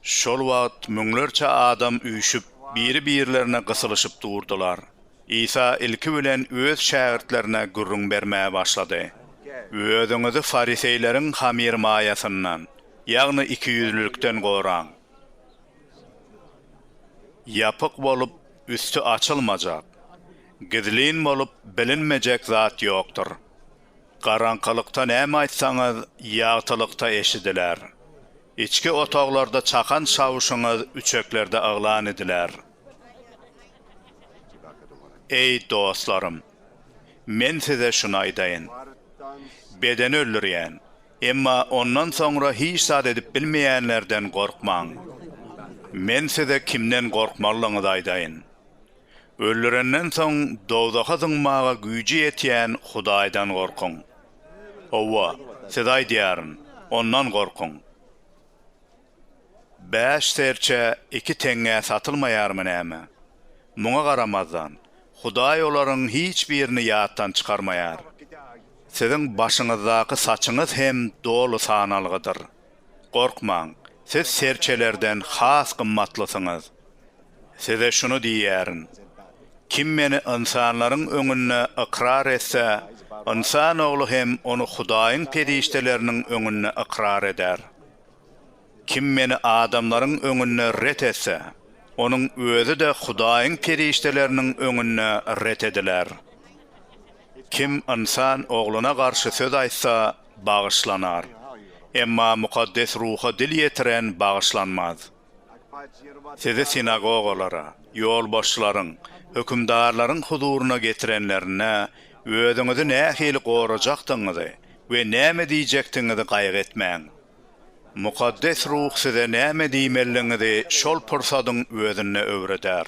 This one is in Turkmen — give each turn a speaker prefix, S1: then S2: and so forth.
S1: Şol wagt müňlerçe adam üýşüp, biri-birlerine gysylyşyp durdular. Isa ilki bilen öz şägirtlerine gürrüň bermäge başlady, Özüňizi fariseýleriň hamyrmaýasyndan, ýagny ikiýüzlülikden goraň. Ýapyk bolup, üsti açylmajak, gizlin bolup bilinmejek zat ýokdur. Garaňkylykda näme aýtsaňyz, ýagtylykda eşidiler. Içki otaglarda çakan çawuşyňyz üçeklerde yglan ediler. Eý, dostlarym! Men size şuny aýdaýyn. Bedeni öldürýän, emma ondan soňra hiç zat edip bilmeýänlerden gorkmaň. Men size kimden gorkmalydygyňyzy aýdaýyn. Öldürenden soň dowzaha zyňmaga güýji ýetýän Hudaýdan gorkuň. Hawa, size aýdýaryn, Ondan gorkuň. Bäş serçe iki teňňä satylmaýarmy näme? Muňa garamazdan, Hudaý olaryň hiç birini ýatdan çykarmaýar. Siziň başyňyzdaky saçyňyz hem doly sanalgydyr. Gorkmaň, siz serçelerden has gymmatlysyňyz. Size şuny diýýärin, Kim Meni ynsanlaryň öňünde ykrar etse, Ynsan Ogly hem ony Hudaýyň perişdeleriniň öňünde ykrar eder. Kim Meni adamlaryň öňünde ret etse, onuň özi-de Hudaýyň perişdeleriniň öňünde ret ediler. Kim Ynsan Ogluna garşy söz aýtsa, bagyşlanar, emma Mukaddes Ruha dil ýetiren bagyşlanmaz. Sizi sinagogalara, ýolbaşçylaryň, hökümdarlaryň huzuryna getirenlerinde, özüňizi nähili gorajakdygyňyzy we näme diýjekdigiňizi gaýgy etmäň. Mukaddes Ruh size näme diýmelidigiňizi şol pursadyň özünde öwreder.